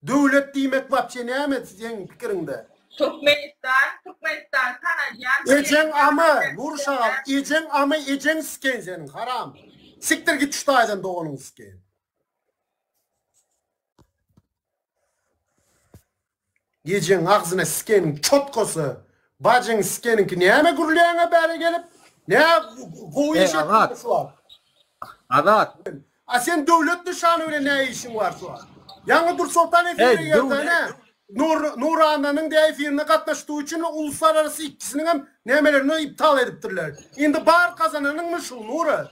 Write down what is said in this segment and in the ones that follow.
Döwlet diýmek wapşe näme seň pikiriňde? Türkmenistan Türkmenistan tanalýan ýeri Ejeň amy nur şagal ejeň amy ejeň siken seniň haram sikdir git şu taýdan doganyň siken. Gecäň agzyna sikeniň çotkasy bajyň sikeniňki näme gürleýäňä bäri gelip nä gowy iş etdiňmi şu wagt. Azat. A sen döwlet nyşany bilen nä işiň bar şu wagt. Ýaňy Dursoltan efire girdi nä nur nurananyň de efirine gatnaşdygy üçin uluslararasy ikisiniňem nämelerini iptal edipdirler. Indi bar gazananyňmy şu nura.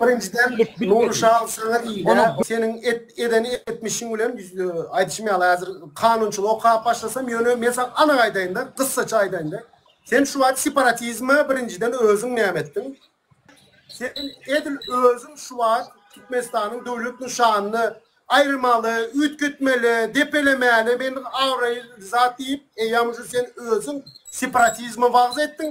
Birinjiden Nurşa saňa diýle seniň eden etmişiň bilen aýdyşym ýaly häzir kanunçylygy okap başlasam ýöne men saňa anyk aýdaýynda gyssaça aýdaýynda sen şu wagt separatizme birinjiden özüň näme etdiň sen edil özüň şu wagt Türkmenistanyň döwlet nyşanyny aýyrmaly üýtgetmeli depelemäli men abraýly zat diýip eýýam şu sen özüň separatizme wagyz etdiň